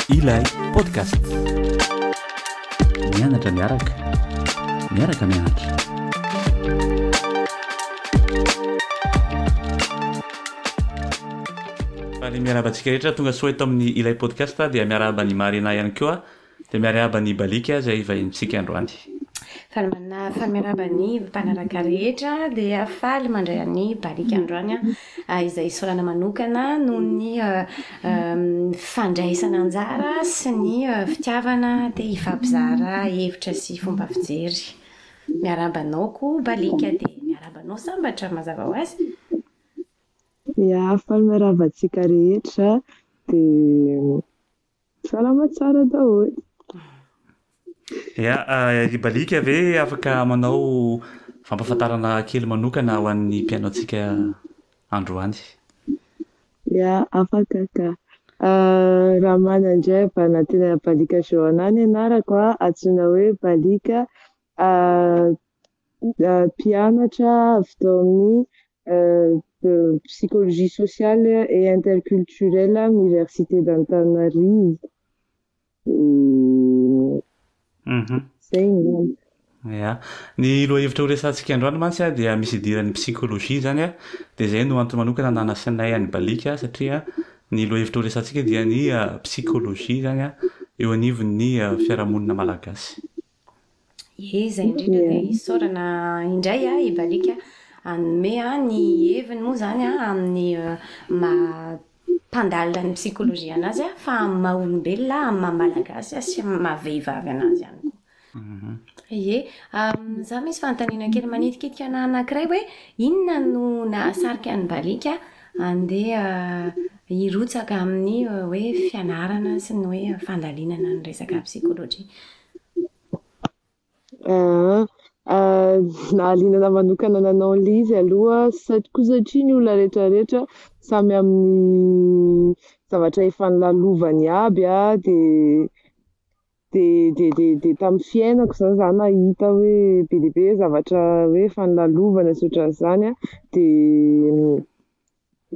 Ilay podcast. Mianatra miaraka. Miaraka mianatra. Fa ny miarahaba antsika rehetra tonga soa eto amin'ny ilay podcast dia miarahaba ny Marina ihany koa. Dia miarahaba ny Baliky aza i vahinintsika androany. Faly manafy miarahaba ny mpanaraka rehetra dia faly mandray an'i Baliky androany aho izay isaorana manokana noho ny fandraisana anjara sy ny fitiavana te hifampizara hevitra sy fomba fijery. Miarahaba anao koa Baliky dia miarahaba anao Sambatra mazava ho azy. Ya, faly miarahaba antsika rehetra dia Salama tsara daholo. Ya, ry Balika ve afaka manao fampafantarana kely manokana ho an'ny mpianaontsika androany? Ya, afaka ka. Ramana indray avy any antenan'i Balika Johanna ny anarako, antsoina hoe Balika. Mpianatra avy tao amin'ny Psychologie sociale et interculturelle amin'ny Université d'Antananarivo. Izay angamba. Ya. Ny lohahevitra horesahantsika androany mantsy dia misy idiran'ny psychologie izany dia izay no antony manokana nanasinay an'i Balika satria ny lohahevitra horesahantsika dia ny psychologie izany eo anivon'ny fiarahamonina malagasy. Ye, izay indrindra dia isaorana indray an, i Balika hanome ny heviny moa izany amin'ny maha-mpandalina ny psychologie an'azy fa amin'ny maha-olombelona, amin'ny maha-malagasy sy amin'ny maha-vehivavy an'azy ihany koa. Ye, izaho misy fanontaniana kely manitikitika anah anankiray hoe inona no nahasarika an'i Balika handeha hirotsaka amin'ny hoe fianarana sy ny hoe fandalinana ny resaka psychologie? Nahaliana anah manokana nanao an'ilay izy aloha sady koa satria ny olona rehetra rehetra samy amin'ny zavatra efa nolalovany aby an, dia dia dia dia tamin'ny fiainako izany za nahita hoe be dia be zavatra hoe efa nolalovana sy ohatran'izany an, dia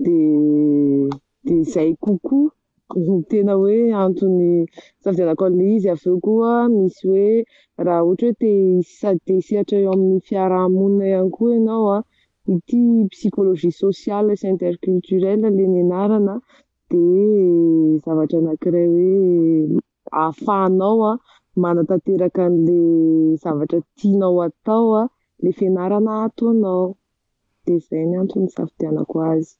Dia dia izay kokoa no tena hoe antony nisafidianako an'ilay izy. Avy eo koa misy hoe raha ohatra hoe te sady te hisehatra eo amin'ny fiaraha-monina ihany koa ianao an, ity psychologie sociale sy interculturelle ilay nianarana dia zavatra anankiray hoe ahafahanao manatanteraka an'ilay zavatra tianao hatao, ilay fianarana ataonao. Dia izay ny antony nisafidianako azy.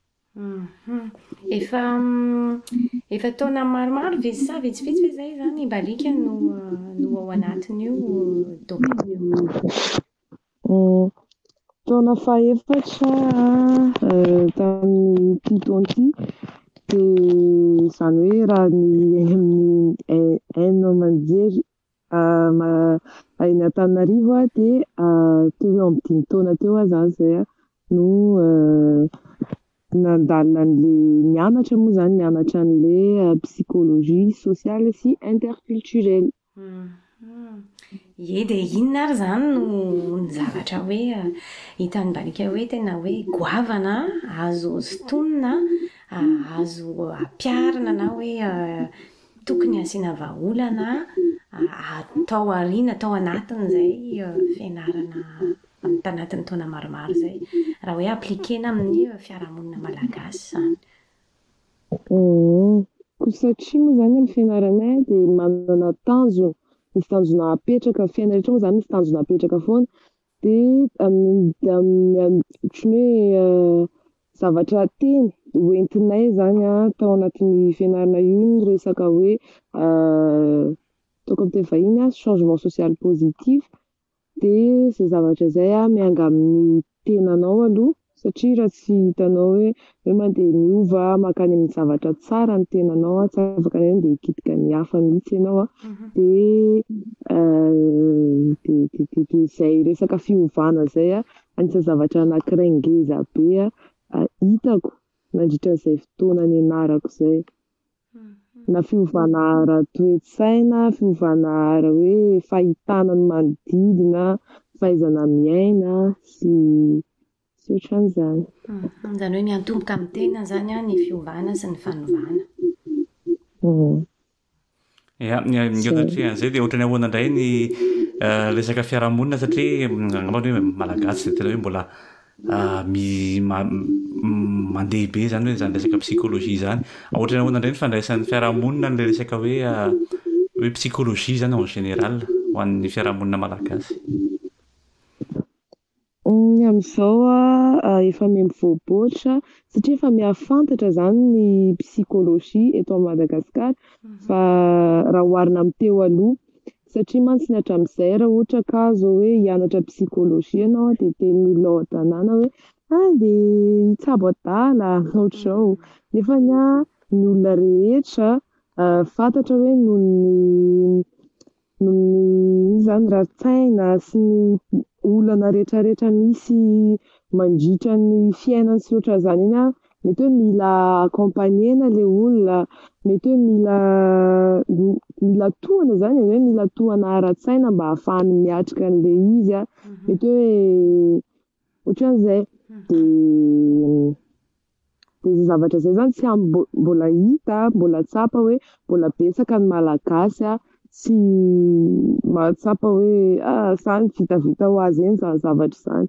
Efa efa taona maromaro ve sa vitsivitsy ve zay zany mba alika no no ao anatin'io domaine io? Taona fahefatra tamin'ity taona ity dia izany hoe raha ny un an-jery Raha eny Antananarivo aho dia teo ho eo amin'ny dimy taona teo aho izany izay no nandalina an'ilay nianatra moa izany, nianatra an'ilay psychologie sociale sy interculturelle. Ie dia inona ary izany no ny zavatra hoe hitan'i Balika hoe tena hoe goavana azo sintonina, azo ampiharina na hoe Tokony asiana vahaolana tao aoriana, tao anatin'izay fianarana amin'ny tanatin'ny taona maromaro izay, raha hoe appliquer-na amin'ny fiarahamonina malagasy izany. Koa satria moa izany ny fianaranay dia manana tanjona, misy tanjona apetraka, ny fiainana rehetra moa izany misy tanjona apetraka foana, Dia amidy amin'ny ohatran'ny hoe zavatra teny hoentinay izany tao anatin'ny fianarana io ny resaka hoe ataoko amin'ny teny vahiny changement social positif dia izay zavatra izay mianga amin'ny tenanao aloha Satria raha tsy hitanao hoe hoe mandeha miova mankany amin'ny zavatra tsara ny tenanao an, tsy afaka hoe mandeha hikitika ny hafa mihitsy ianao an, dia dia dia dia izay resaka fiovana izay an, anisan'ny zavatra anankiray ngeza be an hitako nandritra izay fotoana nianarako izay. na fiovana ara-toe-tsaina, fiovana ara hoe fahitana ny manodidina, fahaizana miaina sy sy otran'izany. Izany hoe miantomboka amin'ny tena izany an ny fiovana sy ny fanovana. Ya, ny ankehitriny dia ohatran'ny ahoana indray ny resaka fiarahamonina satria angambany hoe malagasy dia tena hoe mbola mandeha be zany hoe zany resaka psychologie zany ohatry ny ahoana indray ny fandraisan'ny fiarahamonina an'ilay resaka hoe hoe psychologie zany en général ho an'ny fiarahamonina malagasy? Ny amin'izao an, efa miha mivoaboatra satria efa miha fantatra izany ny psychologie eto Madagasikara fa raha oharina amin'ny teo aloha, Satria mantsy ny hatramin'izay raha ohatra ka zao hoe hianatra psychologie ianao dia tenin'ny olona ao an-tanàna hoe hay de hitsabo adala ohatr'izao nefa ny ahy ny olona rehetra fantatra hoe noho ny noho ny ino izany rarin-tsaina sy ny olana rehetrarehetra misy mandritra ny fiainany sy ohatr'izany iny an Mety hoe mila accompagner-na le olona, mety hoe mila mila tohana zany e, hoe mila tohana ara-tsaina mba hahafahany miatrika an'le izy a, mety hoe ohatran'zay, de de zay zavatra zay zany tsy am- mbo- mbola hita mbola tsapa hoe mbola betsaka ny malagasy a tsy mahatsapa hoe ah sa ny vitavita ho azy eny zany zavatra zany,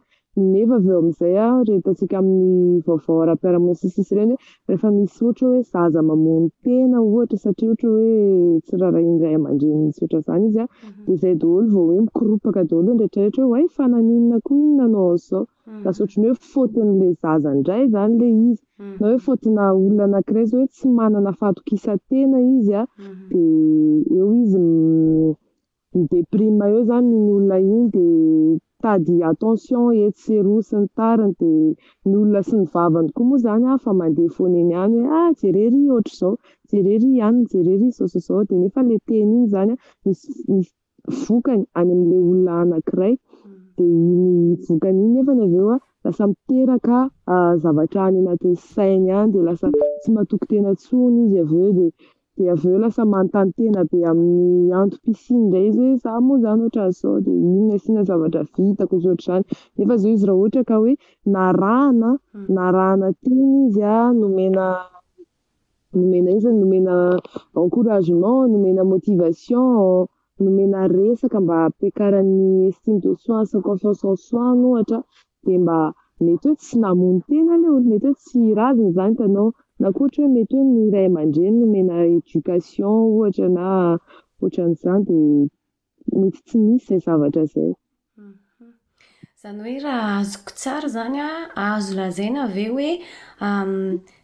Nefa avy eo amin'izay a, ireny hitantsika amin'ny vaovao ara-piarahamonina sy ny sisa ireny hoe rehefa misy ohatra hoe zaza mamono tena ohatra satria ohatra hoe tsy rarahian'ny ray aman-dreniny sy ohatran'izany izy a, dia izay daholo vao hoe mikoropaka daholo ny rehetrarehetra hoe oay fa naninona koa iny nanao an'izao. Lasa ohatran'ny hoe faute-n'ilay zaza indray izany ilay izy, na hoe faute-na olona anankiray izay hoe tsy manana fahatokisan-tena izy a, dia eo izy m-. mi deprime eo zany iny olona iny de mitady attention etsy sy eroa sy ny tariny de ny olona sy ny vavany koa moa zany afa mandeha foana eny ihany hoe ah jereo ry ohatr'izao jereo ry anona jereo ry izao sy izao de nefa le teny iny zany misy misy vokany any amle olona anakiray de iny vokany iny nefany avy eo lasa miteraka zavatra any anatin'ny sainy any de lasa tsy matoky tena tsony izy avy eo de Dia avy eo lasa manontany tena be amin'ny antom-pisiany indray izy hoe za moa zany ohatran'izao dia inona sy inona zavatra vitako sy ohatr'izany. Nefa zao izy raha ohatra ka hoe narahana narahana teny izy a, nomena nomena iza no nomena encouragement, nomena motivation, nomena resaka mba hampiakarany estime de soi sy confiance en soi ny ohatra dia mba mety hoe tsy namono tena le olona, mety hoe tsy raziny zany ka anao na koa ohatra hoe mety hoe ny ray aman-dreny nomena éducation ohatra na ohatran'izany dia mety tsy nisy zay zavatra zay. Izany hoe raha azoko tsara izany an, azo lazaina ve hoe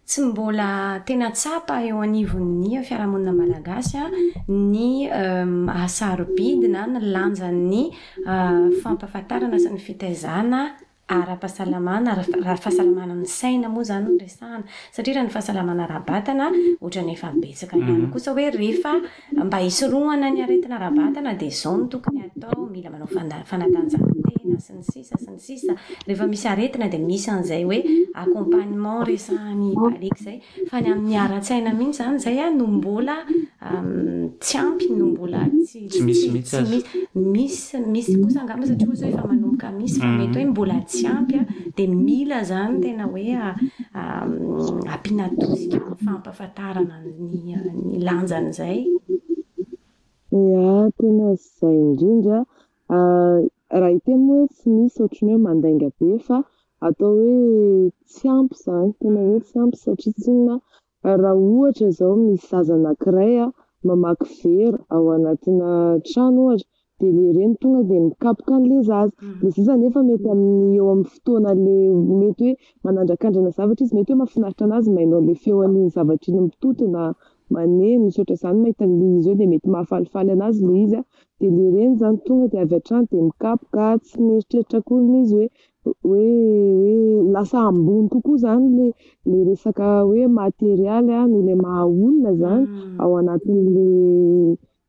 tsy mbola tena tsapa eo anivon'ny fiarahamonina malagasy an, ny maha sarobidy na ny lanjan'ny fampahafantarana sy ny fitaizana ara-pahasalamana, raha fahasalamana ny saina moa izany no resahana. Satria raha ny fahasalamana ara-batana, ohatran'ny efa betsaka ihany kosa hoe rehefa mba hisorohana ny aretina ara-batana dia izao no tokony hatao, mila manao fanatanjahantena sy ny sisa sy ny sisa. Rehefa misy aretina dia misy an'izay hoe accompagnement resahan'i Baliaka izay. Fa ny amin'ny ara-tsaina mihitsy izany izay no mbola tsy ampy, no mbola tsy tsy misy mihitsy aza. Misy, misy kosa angamba satria hoy zao efa manomboka misy fa mety hoe mbola tsy ampy dia mila izany tena hoe ampiana tosika amin'ny fampahafantarana ny lanjan'izay. Ia, tena izay indrindra Raha hiteny moa hoe tsy misy ohatran'ny hoe mandainga be fa atao hoe tsy ampy izany, tena hoe tsy ampy satria tsinona raha ohatra izao misy zaza anankiray mamaky vera ao anatina trano ohatra dia ilay reny tonga dia mikapoka an'ilay zaza, ilay zaza anefa mety amin'ny eo amin'ny fotoanan'ilay mety hoe manandrakandrana zavatra izy, mety hoe mahafinaritra an'azy ny maheno an'ilay feon'iny zavatra iny mitoto na. Maneno, misaotra izany mahita an'i Liza eo dia mety mahafalifaly anazy ilay izy dia ilay reny izany tonga dia avy hatrany dia mikapoka tsy mieritreritra akory ilay izy hoe hoe hoe lasa ambony kokoa izany ilay ilay resaka hoe materialy noho ilay maha olona izany ao anatin'ilay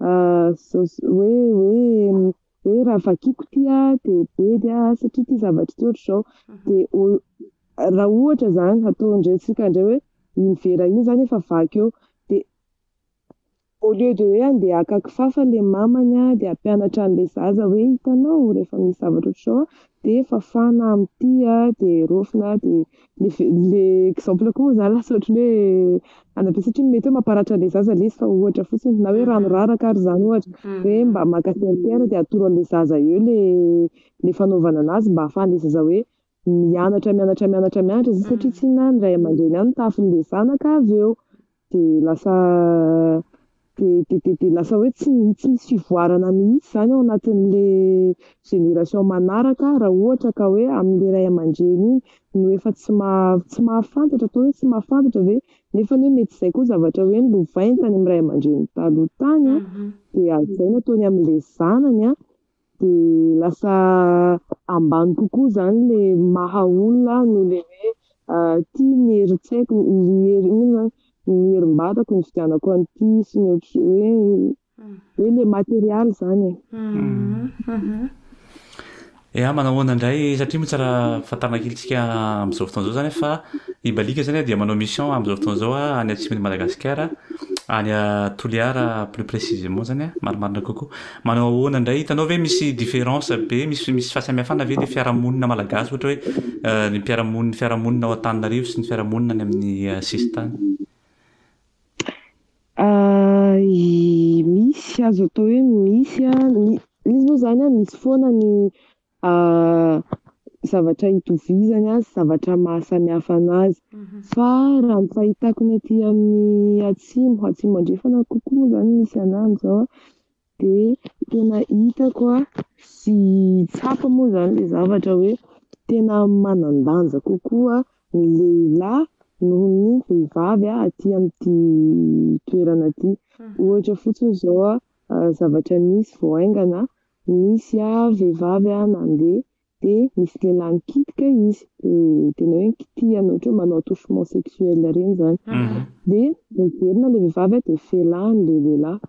Hoe hoe hoe raha vakiko ity dia bedy aho satria ity zavatra ity ohatr'izao dia o- raha ohatra zany ataon-drentsika indray hoe iny vera iny zany efa vaky eo dia au lieu de hoe andeha haka kifafa ilay mamany dia hampianatra an'ilay zaza hoe hitanao rehefa misy zavatra ohatr'izao dia fafana amin'ity dia raofina dia le exemple koa moa zany lasa ohatry ny hoe any be satria mety hoe mamparatra an'ilay zaza ilay izy fa ohatra fotsiny na hoe rano raraka ary zany ohatra hoe mba maka serpillère dia atoro an'ilay zaza eo le le fanaovana an'azy mba ahafahan'ilay zaza hoe mianatra mianatra mianatra mianatra satria tsinona ny ray aman-dreny any no tahafin'ilay zanaka avy eo Dia lasa dia dia dia dia lasa hoe tsy mi- tsy misy fivoarana mihitsy izany ao anatin'ilay génération manaraka raha ohatra ka hoe amin'ilay ray aman-dreny iny no efa tsy maha- tsy mahafantatra, atao hoe tsy mahafantatra ve? Nefa anie mety izay koa zavatra hoe nolovainy tany amin'ny ray aman-dreniny taloha tany an, dia hajaina ataony amin'ilay zanany an. Dia lasa ambany kokoa izany ilay maha olona ahy noho ilay hoe tia ny herin-tsaiko, ny hery, inona moa izany, ny herim-batako nividianako an'ity sy ny ohatr-, hoe hoe ilay material izany e. Ya, manao ahoana indray, satria moa tsara fantarina kely tsika amin'izao fotoana izao izany hoe fa i Balika izany dia manao mission amin'izao fotoana izao any atsimon'i Madagasikara, any Toliara plus précisément izany an, marimarina kokoa. Manao ahoana indray, hitanao ve misy différence be, misy misy fahasamihafana ve le fiarahamonina malagasy ohatra hoe ny mpiara-monina ny fiarahamonina ao Antananarivo sy ny fiarahamonina any amin'ny sisintany? Misy, azo atao hoe misy, misy moa zany an, misy foana ny zavatra itovizany azy, zavatra maha samihafa anazy. Fa raha ny fahitako ny aty amin'ny atsimo, atsimo andrefana kokoa moa zany misy anah amzao, de tena hitako sy tsapa moa zany le zavatra hoe tena manan-danja kokoa ny lehilahy noho ny vehivavy aty amin'ity toerana ty, ohatra fotsiny zao zavatra nisy vao haingana Nisy aho vehivavy a nandeha de nisy lehilahy nikitika izy de tena hoe nikitihana ohatra hoe manao attouchement sexuel ireny zany de niverina le vehivavy a de felahiny le lehilahy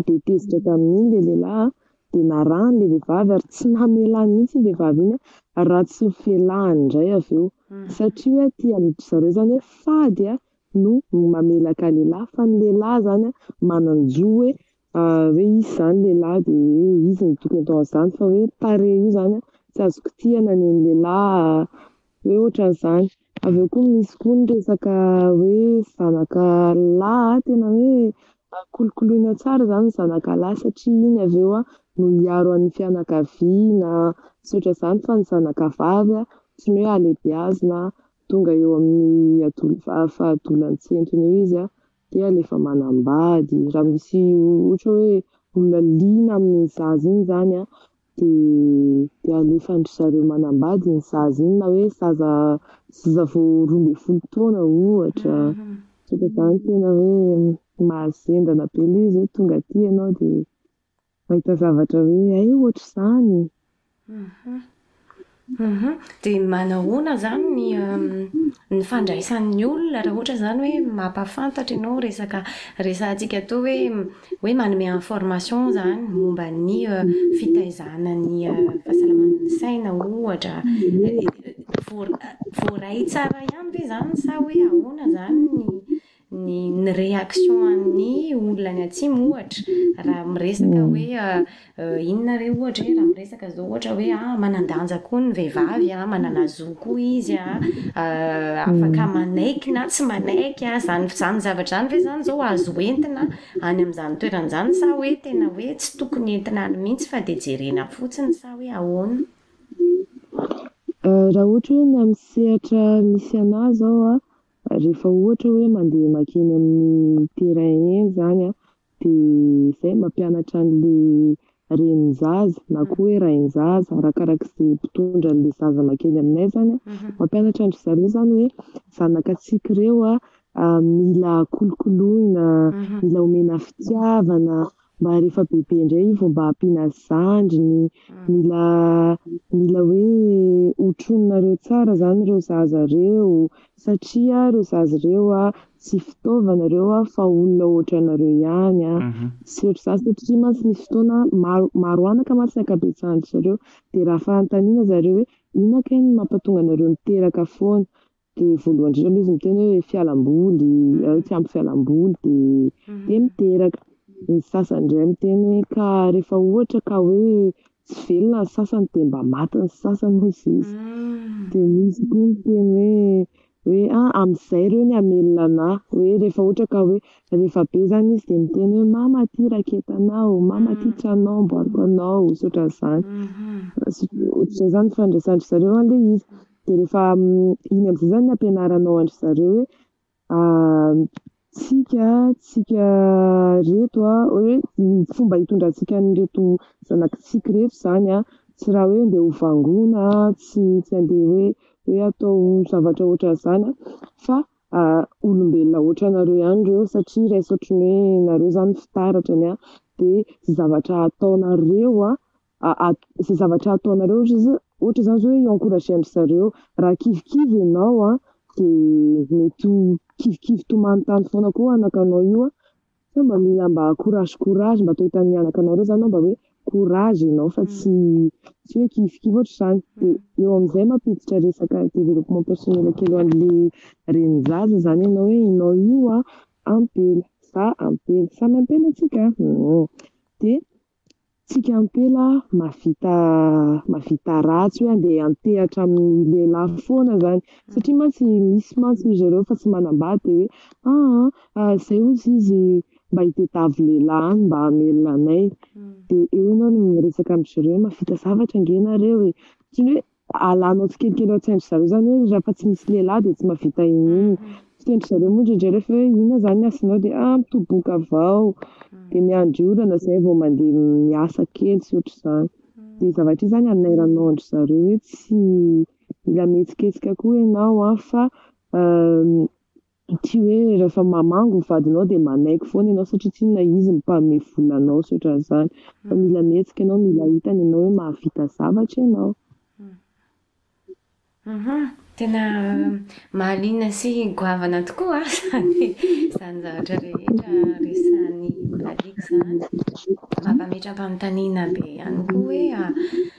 de tezitra tamin'iny le lehilahy a de narahiny le vehivavy ary tsy namela mihitsy iny vehivavy iny a raha tsy felahiny indray avy eo satria hoe aty amin-dry zareo zany hoe fady a no mamelaka lehilahy fa ny lehilahy zany a manan-jo hoe hoe izy izany lehilahy dia hoe izy no tokony atao an'izany fa hoe tarehy io zany a tsy azo kitihina ny an'ny lehilahy hoe ohatran'izany, avy eo koa misy koa ny resaka hoe zanaka lahy tena hoe kolokoloina tsara zany ny zanaka lahy satria iny avy eo no hiaro an'ny fianakaviana sy ohatran'izany fa ny zanaka vavy a tsy ny hoe halehibiazina tonga eo amin'ny fahadolan'ny tsentona eo izy a. dia le efa manambady, raha misy ohatra hoe olona liana amin'iny zaza iny zany an, dia alefan-dry zareo manambady iny zaza iny, na hoe zaza zaza vao roa ambin'ny folo taona ohatra, zany tena hoe mahazendana be le izy hoe tonga aty ianao dia. Mahita zavatra hoe hay ohatr'izany. Dia manahoana izany ny ny fandraisan'ny olona raha ohatra izany hoe mampahafantatra ianao resaka resahantsika atoa hoe hoe manome information izany momba ny fitaizana ny fahasalaman'ny saina ohatra. Voaray tsara ihany ve izany sa hoe ahoana izany ny ny ny réaction an'ny olona any atsimo ohatra raha miresaka hoe inona re ohatra hoe raha miresaka zao ohatra hoe ah manandanja koa ny vehivavy ah manana zo koa izy ah afaka manaiky na tsy manaiky ah zany zany zavatra zany ve zany zao azo entina any am'zany toerana zany sa hoe tena hoe tsy tokony entina any mihitsy fa de jerena fotsiny sa hoe ahoana? Raha ohatra hoe ny amin'ny sehatra misy anah zao a Rehefa ohatra hoe mandeha makeny amin'ny terrain eny zany an, dia zay mampianatra anle renin'ny zaza na koa hoe rain'ny zaza arakaraka izay mpitondra anle zaza makeny aminay zany an, mampianatra an-dry zareo zany hoe zanakatsika ireo an mila kolokoloina, mila omena fitiavana, mba rehefa bebe indray io vao mba ampiana azy zandriny, mila mila hoe hotrononareo tsara zany reo zaza reo satria reo zaza reo a tsy fitaovana reo a fa olona ohatranareo ihany a, tsy ohatry za satria mantsy nisy fotoana maro maro anaka mantsy ny ankabetsahan-dry zareo de raha fanontaniana zareo hoe inona kay no mampatonga anareo miteraka foana Dia voalohany indrindra aloha izy miteny hoe fialamboly, tsy ampy fialamboly dia dia miteraka. Ny sasany indray miteny hoe ka rehefa ohatra ka hoe tsy velona ny sasany dia mba maty ny sasany hoy izy. Dia misy koa miteny hoe hoe a amin'izay ireo ny hamelona anà. Hoe rehefa ohatra ka hoe rehefa be izany izy dia miteny hoe mama aty raketanao, mama aty tranonao amboariko anao, sy ohatran'izany. Ohatr'izay izany ny fifandraisan-dry zareo an'ilay izy. Dia rehefa iny amin'izay izany ny ampianaranao an-dry zareo hoe tsika tsika ireto an, hoe ny fomba hitondrantsika an'ireto zanakitsika ireto izany an, tsy raha hoe andeha ho vangoina, tsy tsy andeha hoe hoe atao zavatra ohatran'izany an, fa olombelona ohatranareo ihany ireo satria raiso ohatran'ny hoe nareo izany fitaratrany an, dia izay zavatra ataonareo an, izay zavatra ataonareo ohatra zao ohatra zany zao hoe i-encourager an-dry zareo raha kivikivy ianao an dia mety ho kivikivy tomany tany foana koa anakanao io an sao mba mila mba courage courage mba toy tany anakanao reo zany aho mba hoe courage ianao fa tsy tsy hoe kivikivy ohatra zany dia eo amizay mampiditra resaka développement personnel kely ho anle renin-jaza zany ianao hoe ianao io an ampela za ampela samy ampela tsika an dia Tsika ampela mahavita mahavita ratsy hoe andeha antehatra amin'ny lehilahy foana zany satria mantsy misy mantsy izy ireo fa tsy manambady dia hoe aa ah, izay ozy izy mba hitadiavo lehilahy any mba hamelona anay dia eo ianao no miresaka amizireo hoe mahavita zavatra ange nareo e ohatran'ny hoe Alanao tsikelikely ao an-tsain-dry zareo izany hoe rehefa tsy misy lehilahy dia tsy mahavita inon'inona. Fiteny-dry zareo moa indraindray rehefa hoe inona izany ny asanao dia ah mitoboka avao, dia miandry orana izay vao mandeha miasa kely sy ohatr'izany. Dia io zavatra io izany anairanao an-dry zareo hoe tsy mila mihetsiketsika koa ianao an fa Ity hoe rehefa mamangy ny vadinao dia manaiky foana ianao satria tsy inona izy no mpanome vola anao sy ohatran'izany fa mila mihetsika ianao mila hitany ianao hoe mahavita zavatra ianao. Uhum, tena mahaliana sy goavana tokoa izany izany zavatra rehetra resahan'i Lalita izany. Mampametra-panontaniana be ihany koa hoe.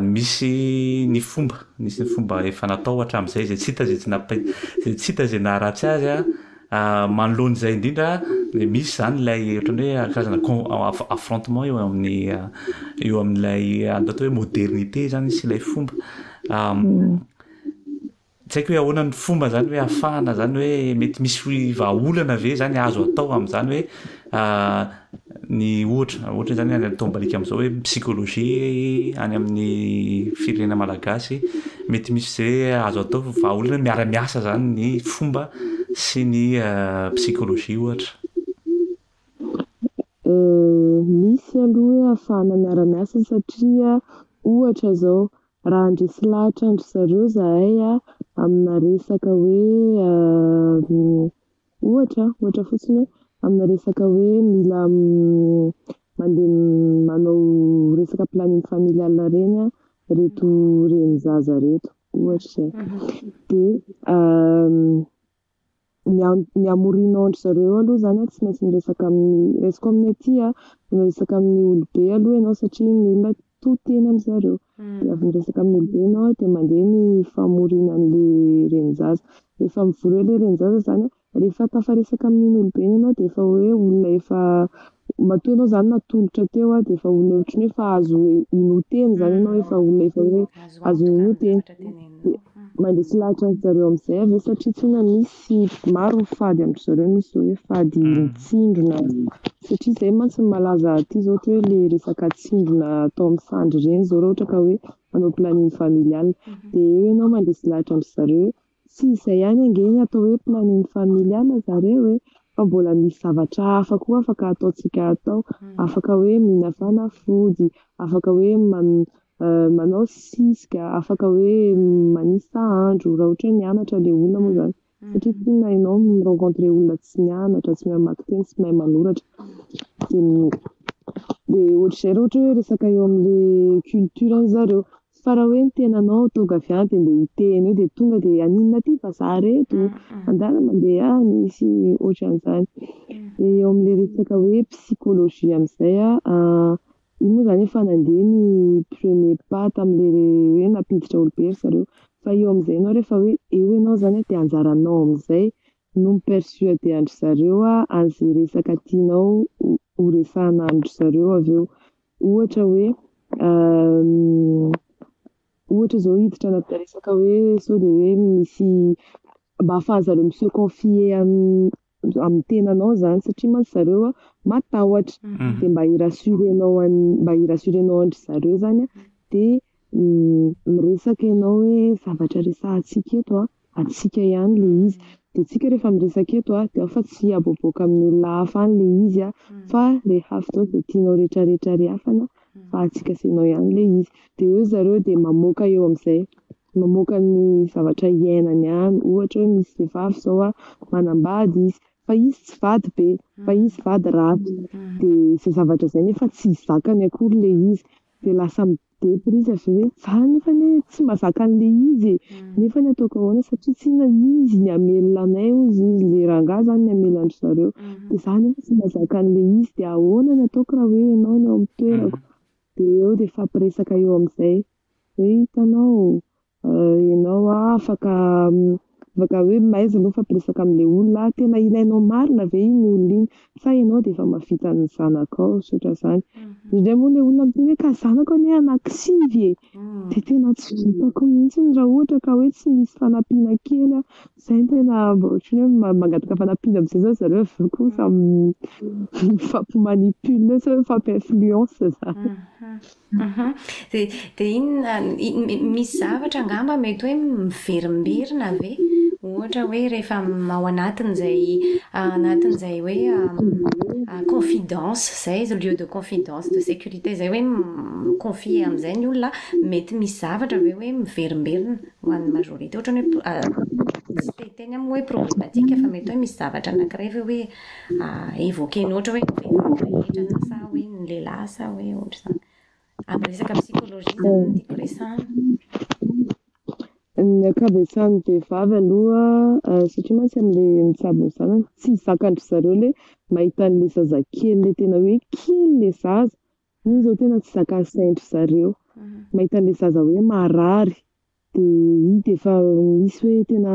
Misy ny fomba, misy ny fomba efa natao hatramin'izay izay tsy hita izay tsy nampa- izay tsy hita izay naharatsy azy a. Manoloana izay indrindra dia misy izany ilay ohatran'ny hoe karazana con- aff- affrontement eo amin'ny eo amin'ilay atao hoe modernite izany sy ilay fomba. Tsy haiko hoe ahoana ny fomba izany hoe afahana izany hoe mety misy vahaolana ve izany azo atao amin'izany hoe ny ohatra ohatra izany any ataom-baliaka amin'izao hoe psychologie any amin'ny firenena malagasy mety misy ze azo atao vahaolana miara-miasa izany ny fomba sy ny psychologie ohatra. Misy aloha hoe afahana miara-miasa satria ohatra izao Raha handresy lahatra an-dry zareo izahay aminà resaka hoe, ohatra, ohatra fotsiny hoe, aminà resaka hoe mila mandeha manao resaka planning familial ireny ireto renin-jaza ireto, ohatra izay. Dia. ny ny hamorianao an-dry zareo aloha izany an, tsy maintsy miresaka amin'ny, raisiko amin'ny aty an, mila miresaka amin'ny olobe aloha ianao satria ny olona to tena amin'ny zareo, dia avy miresaka amin'ny olobe ianao an, dia mandeha ny famoriana an'ilay renin-jaza, rehefa mivory eo ilay renin-jaza izany an, rehefa tafaresaka amin'iny olobeny ianao dia efa hoe olona efa Matoa ianao izany natolotra teo dia efa olona ohatry ny hoe efa azo inoa-tena izany ianao, efa olona efa hoe azo inoa-tena. Mandeha tsy lahatra an-dry zareo amin'izay ve satria tsinona misy maro ny fady amin-dry zareo, misy izao hoe fady mitsindrona satria izay mantsy no malaza aty izao ohatra hoe ilay resaka tsindrona atao amin'ny sandry ireny izao raha ohatra ka hoe hanao planning familial. Dia eo ianao mandeha tsy lahatra amin-dry zareo hoe Tsy izay ihany ange ny atao hoe planning familial ry zareo e, fa mbola misy zavatra hafa koa afaka ataontsika atao, afaka hoe mihina fanafody, afaka hoe manao siska, afaka hoe manisa andro raha ohatra hoe mianatra ilay olona moa izany satria tsy inona ianao mi rencontre olona tsy mianatra, tsy mahay mamaky teny, tsy mahay manoratra, dia dia ohatr'izay raha ohatra hoe resaka eo amin'ilay culture an-dry zareo. Fa raha hoe ny tenanao tonga avy any dia mba hiteny eo dia tonga dia haninona aty vazaha reto? Andeha mandeha any sy ohatran'izany. Dia eo amin'ilay resaka hoe psychologie amin'izay aho, io moa izany efa nandeha ny premier pas tamin'ilay hoe nampiditra olobe ry zareo. Fa eo amin'izay ianao rehefa hoe eo ianao izany dia anjaranao amin'izay no mi-persuader an-dry zareo an'izay resaka tianao ho ho resahina amin-dry zareo avy eo. Ohatra hoe ohatra zao hiditra anaty resaka hoe sao dia hoe misy mba afahanzareo mi se confier amin'ny tenanao zany satria mantsy zareo a matahotra dia mba hi-rassurenao an'i mba hi-rassurenao an-dry zareo zany a dia miresaka ianao hoe zavatra resahantsika eto a Antsika ihany le izy. De tsika refa miresaka eto a de ao fa tsy aboaboaka amin'ny olona hafa any le izy a fa rehafa avy teo de tianao retraretra rehafana fa antsika sy anao ihany le izy. De eo zareo de mamoaka eo amzay mamoaka ny zavatra iainany any ohatra hoe misy vehivavy zao a manambady izy fa izy tsy vady be fa izy vady ratsy de zay zavatra zay nefa tsy zakany akory le izy de lasa Dia pour izy avy eo hoe, za nefa anie tsy mazaka an'le izy e, nefa anie ataoko ahoana satria tsy inona izy ny hamelona anay hozy izy, le rangahy zany ny hamela an-dry zareo, dia za nefa tsy mazaka an'le izy, dia ahoana ny ataoko raha hoe enao no ao amin'ny toerako, dia eo dia hifampiresaka eo amin'izay hoe hitanao, Ianao an, afaka afaka hoe mahaiza ianao mifampiresaka amin'ilay olona an, tena ilainao marina ve iny olona iny sa ianao dia efa mahavita ny zanakao sy ohatran'izany. Indraindray moa ilay olona miteny hoe ka zanako anie anakisivy e, dia tena tsy vitako mihitsy raha ohatra ka hoe tsy misy fanampiana kely an, izay no tena mba ohatran'ny hoe ma- mangataka fanampiana amin'izay izao ry zareo avy eo koa samy mifampi-manipule sa hoe mifampi-influence izany. Dia dia inona, misy zavatra angamba mety hoe miverimberina ve? Ohatra hoe rehefa ao anatin'izay anatin'izay hoe confidence izay, lieu de confidence, de sécurité izay hoe mi-confier amin'izay ny olona, mety misy zavatra ve hoe miverimberina ho an'ny majorité? Ohatran'ny hoe, tsy te hiteny aho moa hoe problematique fa mety hoe misy zavatra anankiray ve hoe évoquer-ny ohatra hoe rehetra na sa hoe ny lehilahy sa hoe ohatr'izany. Amin'ny resaka psychologie izany no tiako resahana. Ny ankabetsahan'ny vehivavy aloha satria mantsy amin'ilay mitsabo ny zanany, tsy zakan-dry zareo ilay mahita an'ilay zazakely ilay tena hoe kely ilay zaza, Iny zao tena tsy zakan'ny sain-dry zareo. Mahita an'ilay zaza hoe marary, dia hita efa misy hoe tena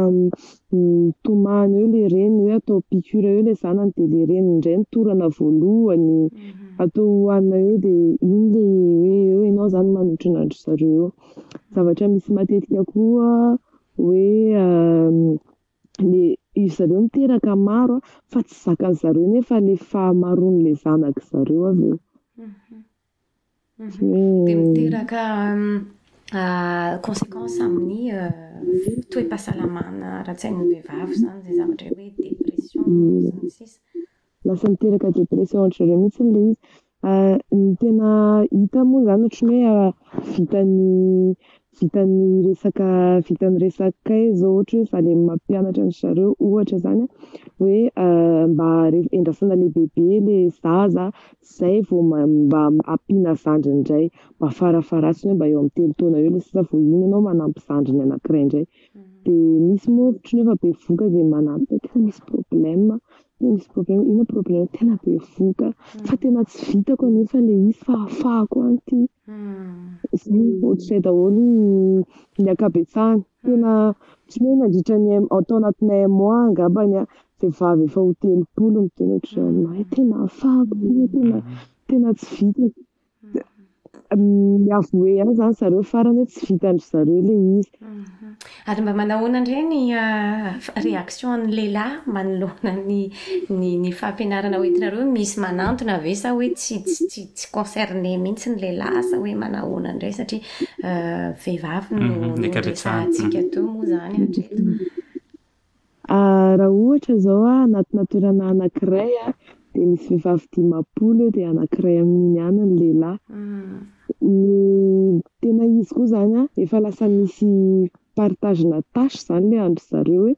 mitomany eo ilay reny hoe atao piqûre eo ilay zanany, dia ilay reny indray no torana voalohany, atao hohanina eo, dia iny ilay hoe eo ianao izany manotrona an-dry zareo eo. Zavatra misy matetika koa hoe le izy zareo miteraka maro fa tsy zakan zareo nefa le fahamaroan le zanak zareo avy eo dia miteraka consequence amin'ny toe-pahasalamana ara-tsain'ny vehivavy izany izay zavatra hoe dépression sy ny sisa Lasa miteraka dépression ohatra zareo mihintsy ilay izy, ny tena hita moa zany ohatran'ny hoe vitan'ny vitan'ny resaka vitan'ny resaka kay zao ohatra hoe zalahy mampianatra an-dry zareo ohatra zany hoe mba endrasana lehibebe ilay zaza zay vao mba ampiana zandriny indray mba farafaharatany hoe mba eo amin'ny telo taona eo ilay sisa vao iny ianao manampy zandriny anakiray indray dia misy moa ohatra hoe efa bevohoka dia manampy hoe tena misy problème Misy problème io problème tena bevohoka fa tena tsy vitako anefa le izy fa afahako any ty zay ohatr'izay daholo ny ankabetsahany tena tsy hoe nandritra ny un- tao anatin'ny un mois angambany aho vehivavy efa ho telopolo miteny ohatr'izao aminah tena afahako tena tena tsy vitako mi-avouer ihany zany zareo farany hoe tsy vitan-dry zareo ilay izy. Ary mba manao ahoana indray ny réaction-n'ny lehilahy manoloana ny ny fampianarana ho entinareo hoe misy manantona ve sa hoe tsy tsy tsy concerné mihitsy ny lehilahy sa hoe manao ahoana indray satria vehivavy no no resahantsika teo moa izany hatreto. Raha ohatra zao a, anatina toerana anakiray a, de misy vehivavy dimampolo eo de anakiray amin'iny ihany ny lehilahy, ny tena izy koa zany a efa lasa misy partage-na tâche zany le andry zareo hoe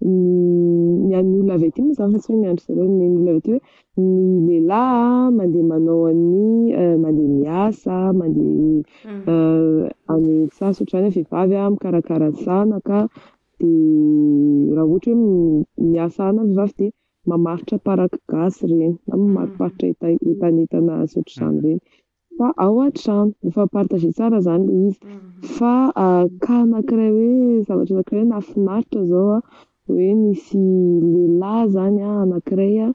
ny an'ny olona avy aty moa zany fa tsy hoe ny andry zareo, ny olona avy aty hoe ny lehilahy a mandeha manao an'ny mandeha miasa, mandeha any an-tsaha, tsy ohatran'ny hoe vehivavy a mikarakara ny zanaka, Dia raha ohatra hoe miasa any ny vavy dia mamaritra paraky gasy ireny na mamariparitra enta- entanentana sy ohatr'izany ireny fa ao an-trano. Mifampapartager tsara izany ilay izy. Fa cas anakiray hoe zavatra anakiray nahafinaritra izao an, hoe nisy lehilahy izany an anakiray an,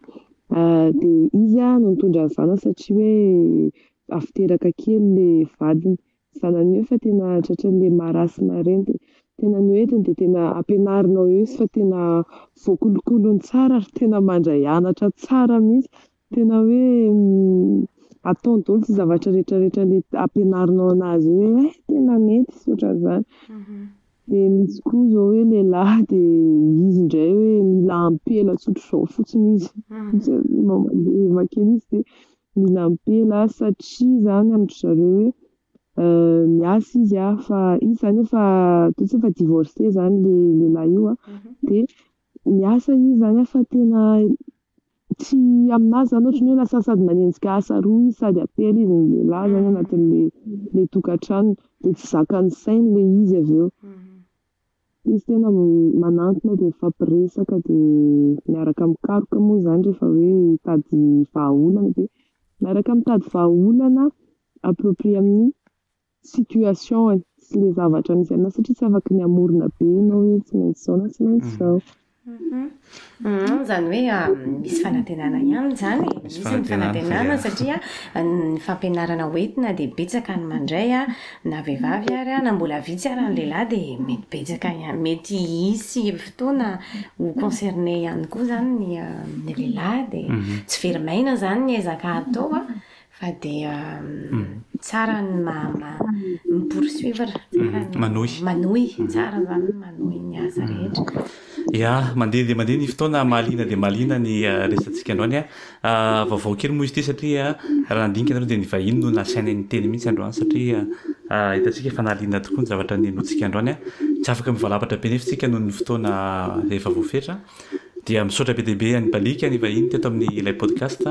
dia izy no nitondra ny zanany satria hoe avy teraka kely ilay vadiny. zanany eo fa tena tratran'ny le marasme ireny dia tena ny hoentiny dia tena ampianarinao eo izy fa tena voakolokolony tsara ary tena mandray anatra tsara mihintsy tena hoe ataony daholo izay zavatra rehetra rehetra ampianarinao anazy eo hoe eh tena mety izy ohatran'izany dia misy koa izao hoe lehilahy dia izy indray hoe mila ampela tsotr'izao fotsiny izy dia mamandeha kely izy dia Mila ampela satria zany amin-dry zareo hoe miasa izy an, fa izy zany efa ataontsika hoe efa divorcé zany le lehilahy io an, de miasa izy zany an fa tena tsy aminazy zany ohatry ny hoe lasa sady manenjika asa roa izy sady ampela izy ny lehilahy zany anatin'le le tokantranony de tsy zakan'ny sainy le izy avy eo. Izy tena manantona dia mifampiresaka dia miaraka mikaroka moa izany rehefa hoe hitady vahaolana dia miaraka mitady vahaolana approprié amin'ny situation-ny sy ilay zavatra misy anao satria tsy afaka ny hamorona be ianao hoe tsy maintsy izao na tsy maintsy izao. Humm izany hoe misy fanantenana ihany izany e, misy ny fanantenana satria ny fampianarana ho entina dia betsaka ny mandray an, na vehivavy ary an, na mbola vitsy ary ny lehilahy dia mety betsaka ihany, mety hisy fotoana ho concerner ihany koa izany ny lehilahy dia tsy very maina izany ny ezaka atao an, Fa dia tsara ny mi poursuivre, tsara ny manohy, manohy, tsara izany ny manohy ny asa rehetra. Ya, mandeha dia mandeha ny fotoana, mahaliana dia mahaliana ny resatsika androany an! Vaovao kely moa izy ity satria raha nandinika ianareo dia ny vahiny no nasaina niteny mihitsy androany satria hitantsika fa nahaliana tokoa ny zavatra nenointsika androany an! Tsy afaka mivalapatra be anefa isika noho ny fotoana efa voafetra dia misaotra be dia be an'i Baliaka ny vahiny teto amin'ny ilay podcast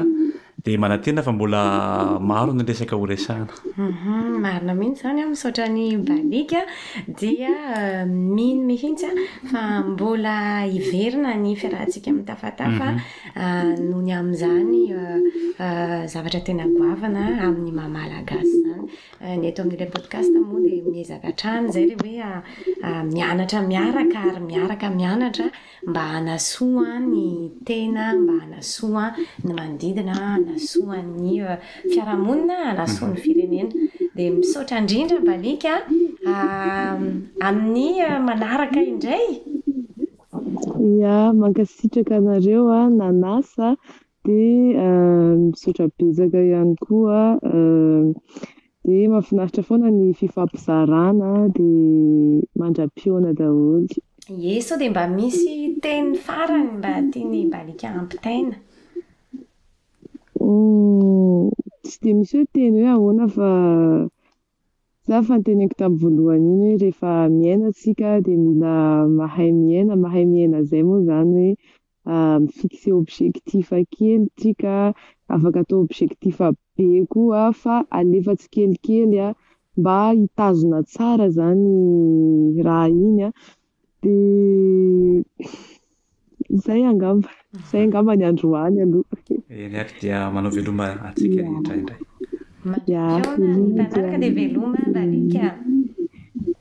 Dia manantena fa mbola maro ny resaka ho resahana. Marina mihitsy izany an, misaotra an'i Baliaka, dia mino mihitsy aho fa mbola hiverina ny fiarahantsika amin'ny Tafatafa noho ny amin'izany zavatra tena goavana amin'ny maha Malagasy izany. Ny eto amin'ilay podcast moa dia miezaka hatrany izay ilay hoe mianatra miaraka ary miaraka mianatra. Mba hanasoa ny tena, mba hanasoa ny manodidina, hanasoa ny fiarahamonina, hanasoa ny firenena. Dia misaotra indrindra Mbaliaka a! Amin'ny manaraka indray! Ia, mankasitraka anareo nanasa dia misaotra betsaka ihany koa Dia mahafinaritra foana ny fifampizarana dia mandra-pihaona daholo. Ie sao dia mba misy teny farany mba tian'i Balika hampitaina? Tsy dia misy hoe teny hoe ahoana fa za fa ny teneniko tamin'ny voalohany iny hoe rehefa miaina tsika dia mila mahay miaina, mahay miaina izay moa izany hoe mi-fixer objectif kely tsika, afaka atao objectif be koa fa alefa tsikelikely mba hitazona tsara zany raha iny a, de zay angamba, zay angamba ny androany aloha. Eny ary dia manao veloma antsika rehetra indray. Mandri-pihaonan'ny mpanaraka dia veloma ry Lalika a.